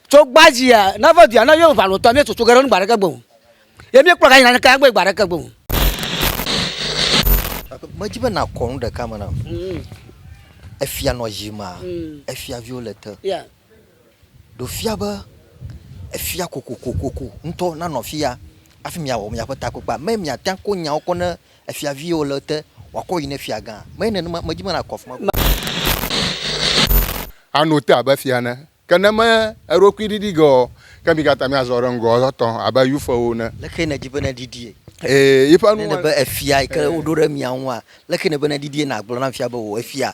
tso gbadzia nava dua na yewo valo tɔ mi tsotso ge ɖe nu gbaɖeke gbɔn ye mi kplɔ ka yina ne ka gbe gbaɖeke gbɔn. medzi be nakɔ nu ɖeka me nam mm. efia nɔ dzi ma mm. efia viwo le te yeah. ɖo fia be efia kokokokoko ŋutɔ nanɔ fia afi miawɔ miaƒe takpekpea me miate ko nyawo kɔ ne Efiaviwo le ete, wòakɔ yi ne fiagã. Menye nenema, medi be nàkɔ afi ma godoo. Àno te abe fia ene. Ke ne me eɖokui ɖiɖi ge o, ke mi katã miazɔ ɖe ŋgɔ etɔ abe yufewo ene. Lé xee nèdi be neɖiɖie? Ee, yiƒe nu. Ne nèbe efia yi ke woɖo ɖe mia ŋua, lé xee nèbe neɖiɖie? Nàgblɔ nam fia be wò efia,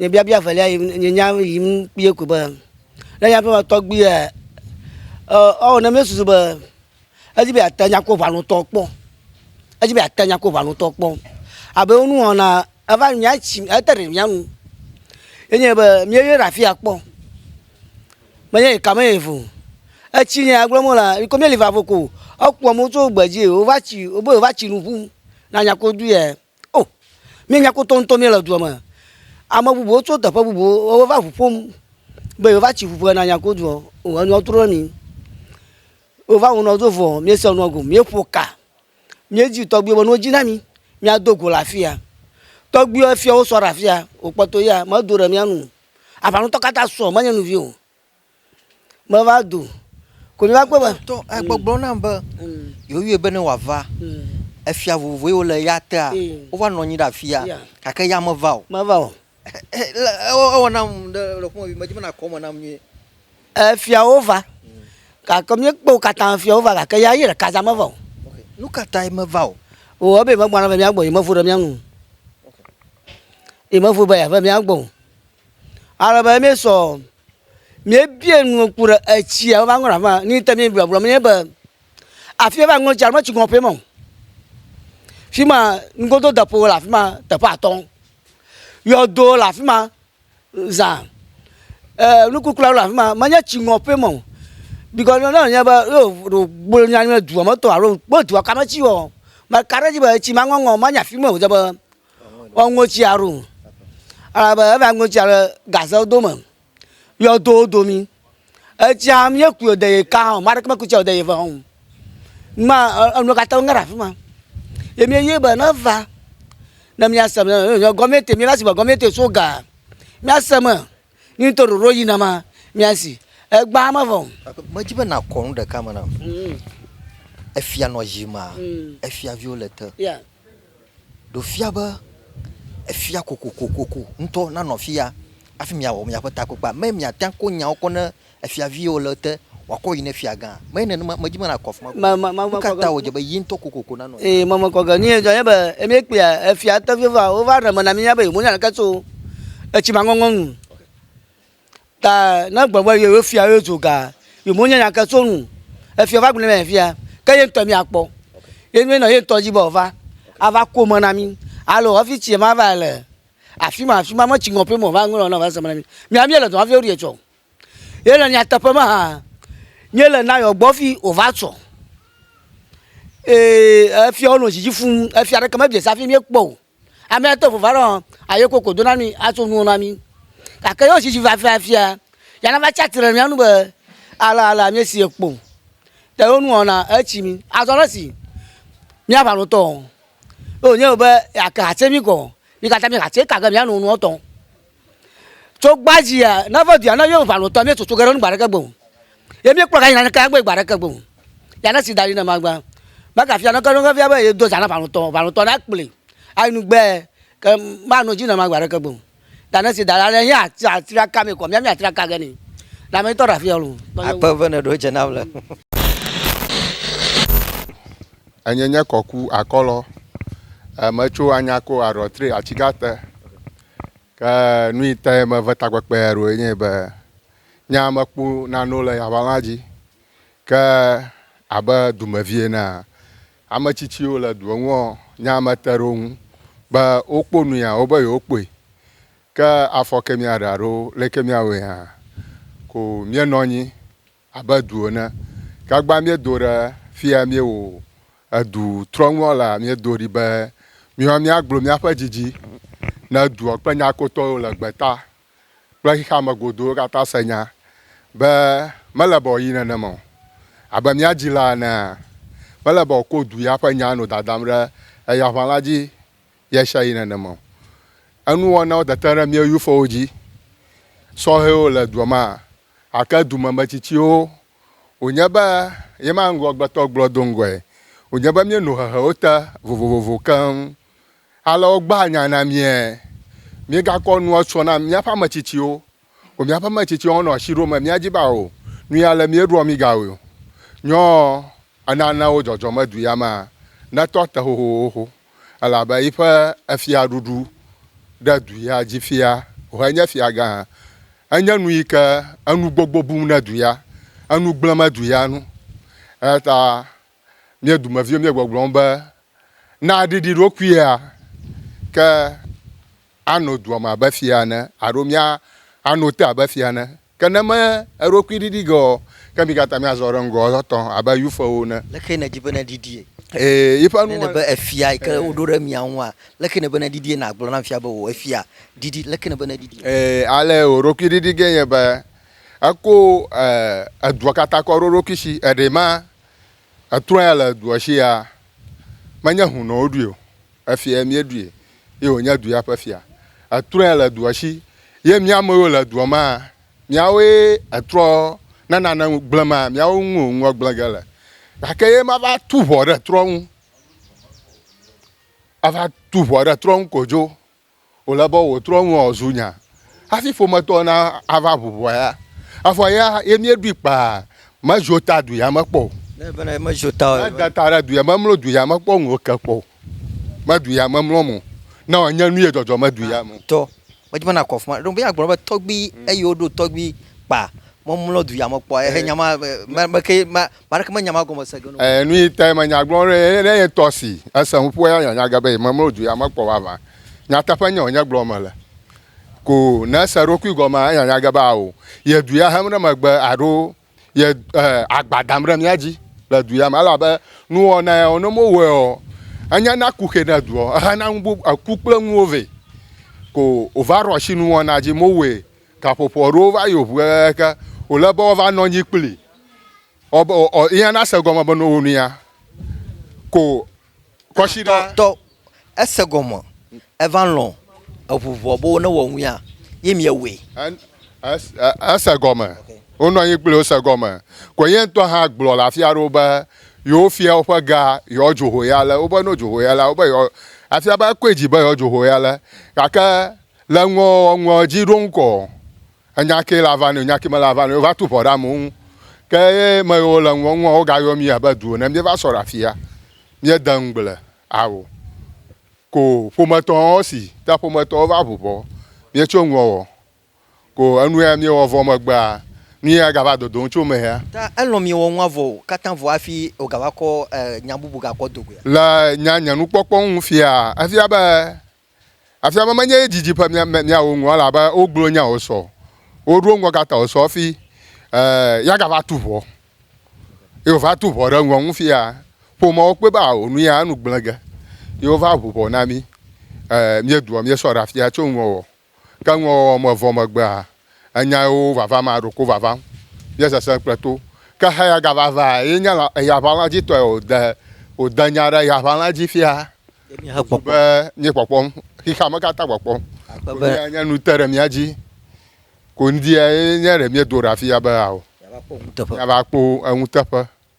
Nye biabia evelia yim, nye nya yim kpuie ko be, ne nye aƒeme tɔgbuia, ewɔ ne míesusu be edi be yeate nya ko ʋalutɔ kpɔ, edi be yeate nya ko ʋalutɔ kpɔ. Abe wo nuwɔna eva mía tsi ete ɖe mía nu ye nye be míeyɔe ɖe afia kpɔ. Menye yi ka me yeva o. Etsi nye ya gblɔm wolea, yike míeli va vo ko. Ekpɔ amewo tso gbe dzi ye wova tsi, wobe yewova tsi nu ƒum ne anya ko ɖui ya. O, mí nya kpɔtɔ ŋutɔ mí le dua me. Ame bubuwo tso teƒe bubuwo wo va ʋu ƒom be yewo va tsi ƒuƒo yina nya kpɔtɔ. O, enua trɔ ɖe mí. Wo va wunɔ do vɔ, mí se nua gome, mí ƒo ka. Mí dzi tɔgbi be nɔ dzi na mí, mí a do go le afia. Tɔgbi efia wo sɔ ɖe afia, wo kpɔtɔ ya me do ɖe mía nu. Aʋa ŋutɔ kata sɔ, me nye nuvi o. Meva do. Ko mi va kpɔe be. Tɔ egbɔgblɔ nam be yewoyɔe be ne wòava. Efia vovovoe wole eya tea. Wova nɔ anyi ɖe afia gake eya meva o. Meva o. Ewɔ nam ɖe lɔƒome vi medi be nàkɔ eme nam nyuie. Efiawo va gake míekpɔ wo katã efiawo va gake ya ye ɖeka zã meva o. Nu ka tae meva o? O ebe yemegbɔna ava mía gbɔ o, yemevo ɖe mía ŋu o. Yemevo be yeava mía gbɔ o. Ale be míesɔ. Míebia nu ku ɖe etsia wova ŋlɔ aƒe ni te mi gblɔ gblɔ mi be afi wova ŋlɔ tsia me tsi ŋlɔ ƒe mɔ. Fi ma ngodo depo le afi ma teƒe atɔ. Yɔdo le afi ma za e eh, nukukla le afi ma menye tsi ŋlɔ ƒe mɔ. Bikɔ ne ne nye be yo ɖo gbolo nya nye dua me tɔ alo kpɔ dua kame tsi wɔ. Meka ɖe dzi be etsi ma ŋɔŋɔ ma nya fi me o dze be. Ɔŋɔtsia ɖo alabe eva ŋɔtsia ɖe gaze do me yɔdo domi etsia mie ku yɔde ye ka hã mari kpekpe tsia yɔde ye ve hã ma enu katã ŋa ɖe afi ma ye mie ye be ne va ne mia se be gɔmɛte mia va se be gɔmɛte so ga mia se me Ni ŋutɔ ɖoɖo edzi na ma mia si egbea me vɔ. Medzi be nakɔ nu ɖeka me nam. Mm. Efia nɔ dzi ma, mm. efiaviwo le te. Yeah. Ɖo fia be efia kokokokoko ŋutɔ nanɔ fia afi miawɔ miaƒe takpekpea. Me miatia ko nyawo kɔ ne Efiaviwo le ete, wòakɔ yi ne fiagã. Menye nenema, medzi be nàkɔ afi ma gɔ̃ hã o. Nu ka ta wòdze be ye ŋutɔ kokoko nanɔ anyi? Ee, mekɔ ge. Nu si dzɔ nye be, ne míekpɔa efia teƒewoa, wova ɖe eme na mí be yewonya ɖeke tso etsi ma ŋɔŋlɔ ŋu o. Ta ne egblɔ be yewo fia ye dzo gaa, yewonya nya aɖeke tso eŋu o. Efia va gblɔ nɛ fifia, ke ye ŋutɔ míakpɔ. Ye nue nɔ ye ŋutɔ dzi be wòava, ava ku eme na mí. Alo hafi tsi ma va le afi ma afi ma, me tsi ŋɔŋlɔ ƒe me wòva ŋlɔ ne wòava se eme na mí. Míawo míele dɔ wɔm hafi woɖi etsɔ o. Ye le nyateƒe me hã, nye le nayɔ gbɔ fi wòva tsɔ. Ee, efia wonɔ dzidzi fuu. Efia ɖeke mebia se hafi míekpɔ o. Amea te ŋu va ɖo aye koko do na mí atso nuwo na mí. Gake ye wodzidzi va fia fia, ya nava tsi atsitre ɖe mía nu be alea alea míesi ye kpɔ o. Ta ye wonɔ na etsi mí. Azɔ le esi míaʋa nu tɔ, ye wònye be yeake hatse mí kɔ, mí katã míehe hatse kake míano nuwo tɔ. Tso gbadzia, ne eve dua, ne míewo ʋalotɔ, míetsotso ge ɖe nu gbe aɖeke gbe o. Ye míekplɔ gayina ɖeke agbe gbe aɖeke gbe o. Ya ne si da ɖi ne magba. Megafia neke ɖo efia be yedo zã na ʋalotɔ o. Ʋalotɔ ne akplɔe ayi nu gbe ke manɔ edzi ne ma gbe aɖeke gbe o. Ta ne si da ɖa ne ye ate atrɔ aka mee kɔ mía míatrɔ aka ge nɛ. Na me ŋutɔ ɖe afia loo. Akpe eve ne ɖewo dze nam le. Enye nye kɔku akɔlɔ. Metso Anyako Arɔtre Atsigate. Ke nu yi te meve takpekpea ɖoe nye be nye ya mekpɔ nanewo le aʋala dzi. Ke abe dumevi enea, ame tsitsiwo le dua ŋua, nye ya mete ɖe wo ŋu be wokpɔ nu ya wobe yewokpɔe. Ke afɔ ke mía ɖe alo leke mía wɔe hã ko mía nɔ anyi abe du ene. Gagba míedo ɖe fia míewo edu trɔŋua lea, míedo ɖi be míwa míagblɔ míaƒe didi ne dua kple nyakpɔtɔ yiwo le gbeta kple xexea me godoo katã se nya be mele be wòayi nenema o. Abe mía dzila enea, mele be wòakɔ du ya ƒe nya nɔ dadam ɖe eya ʋã la dzi ɣesiaɣi nenema o. Enuwɔnawo dete ɖe mía Yufuwo dzi sɔhɛwo le dua mea? Gake dumemetsitsiwo wònye be yema ŋgɔgbetɔ gblɔ do ŋgɔe wònye be míeno hehewo te vovovo keŋ ale wogbaa nya na míae. Míegakɔ nua tsɔ na míaƒe ame tsitsiwo o. Míaƒe ame tsitsiwo hã nɔ asi ɖom be míadzi be ao nu ya ale míeɖoa mí gawoe o. Nyɔ enana wo dzɔdzɔmedui amea netɔ te xoxoxo. elabe yiƒe efiaɖuɖu ɖe du ya dzi fia wòhe nye fiagã. Enye nu yi ke enu gbogbo bum ne du ya, enu gblẽm edu ya nu. Eya ta mía dumeviwo míegbɔgblɔm be, Na ɖiɖi ɖokuia, ke Ano dua me abe fia ene alo mía ano te abe fia ene. Ke ne me eɖokui ɖiɖi ge ɔ, ke mi kata mia zɔ ɖe ŋgɔ etɔ abe Yuifewo ene. Leke ne di be ne ɖiɖie? Ee, yiƒe Ne nuwɔna. nebe efia yi ke Ee. woɖo ɖe mia ŋua, leke ne be ne ɖiɖie na gblɔ na fia be o efia ɖiɖi leke ne be ne ɖiɖie? Ee, ale woɖokui ɖiɖi ge nye be eko e edua kata kɔ ɖo eɖokui shi. Eɖe ma etrɔya le edua shia, menye hu nɔ woɖui o. Efia mieɖui. ye wònye du ya ƒe fia. Etrɔe le dua si ye mía ame yiwo le dua mea, míawoe etrɔ ne nane gblẽ mea, míawo ŋu wònua gblẽ ge le. Gake ye mava tu ʋɔ ɖe trɔ ŋu, ava tu ʋɔ ɖe trɔ ŋu kodzo o. Wòle be wò trɔ ŋua wòzu nya hafi ƒometɔwo nava ʋu ʋɔ ya. Evɔ ya ye míeɖoe kpaa, mezo ta du ya me kpɔ o. Ne eve na ye mezo ta o. Mede ta ɖe du ya me, memlo du ya me kpɔ o, ŋu ke kpɔ o. meɖui ame mlɔm o, ne wòanye nu ye dzɔdzɔ meɖui ame o. Tɔ, medze be nàkɔ afi ma. Ɖewo be agblɔ be tɔgbui eye woɖo tɔgbui kpa memlɔ dui ame kpɔ ehe nya ma me me ke ma ma ɖeke menya ma gɔme se ge no. Ee, nuyi tae menya gblɔ ɖo ye ne ye tɔ si ese nuƒo ya nya nya ge be memlɔ dui ame kpɔ vavã. Nyateƒe nye wònye gblɔ mele. Ko ne ese eɖokui gɔmea enya nya ge be ao ye dui ahem ɖe megbe aɖo ye eh, agba dam ɖe mía dzi le du ya me elabe nuwɔna ya ne mowɔe o enya na ku xe ne dua ehena nu bubu eku kple nuwo vɛ ko wòva ɖo asi nuwɔna dzi mowɔe gaƒoƒo aɖewo va yi ŋu ke wòle be woava nɔ anyi kpli ɔbe ɔ yina na se gɔme be ne wo nu ya ko Kɔsiɖa. Tɔ ese gɔme eva lɔn eʋu vɔ be wo ne wɔ ŋuia ye mi ye woe. Ese gɔme. Wo nɔ anyi kplio se gɔme. Kɔ ye ŋtɔ hã gblɔ le afia ɖewo be yewo fia woƒe ga yewo dzo ho ya le wo be no dzo ho ya la wo be yewo afia be ekɔe dzi be yewo dzo ho ya le gake le ŋuɔ ŋuɔ dzi ɖo ŋkɔ. Enya kee le ava nɛ o, enya kee mele ava nɛ o, wova tu ŋɔ ɖe amewo ŋu. Ke eme yi wole ŋgɔ ŋua, wogayɔ mí abe du ene. Míeva sɔ ɖe afia, míede ŋugble ao. Ko ƒometɔwo, esi ta ƒometɔwo va ŋu ŋɔ míetso ŋgɔ ɔ, ko enu ya míewɔ vɔ megbea, nu ya gava dodom tso eme ya. Ta elɔ̃ miewɔ nua vɔ katã vɔ hafi wògava kɔ nya bubu gakɔ do goea? Le nya nye nukpɔkpɔ ŋu fiaa, efia be Afia me menye ye didi ƒe mia, miawo ŋu elabe wogblɔ nyawo sɔ, woɖo ŋgɔ gata wo sɔ hafi e, yagava tu ʋɔ. Ye wòva tu ʋɔ ɖe ŋgɔ ŋu fia. Ƒomeawo kpɔe be ao nu ya enu gblẽ ge. Ye wova ʋu ʋɔ na mí. E, míedoa míesɔ ɖe afia tso nuwɔwɔ. Ke nuwɔwɔ me vɔ megbea, Enya yewo vava ma ɖoko vava nye sese kple to. Ke heya gava va ye nye la eya ʋala dzi tɔe o de o de nya ɖe ya ʋala dzi fia. Wozu be nye kpɔkpɔm xixea me katã kpɔkpɔm. Be ya nye nu te ɖe mía dzi. Ko ŋdi ya ye nye ɖe mía do ɖa fia be ao. Mía va kpɔ eŋuteƒe.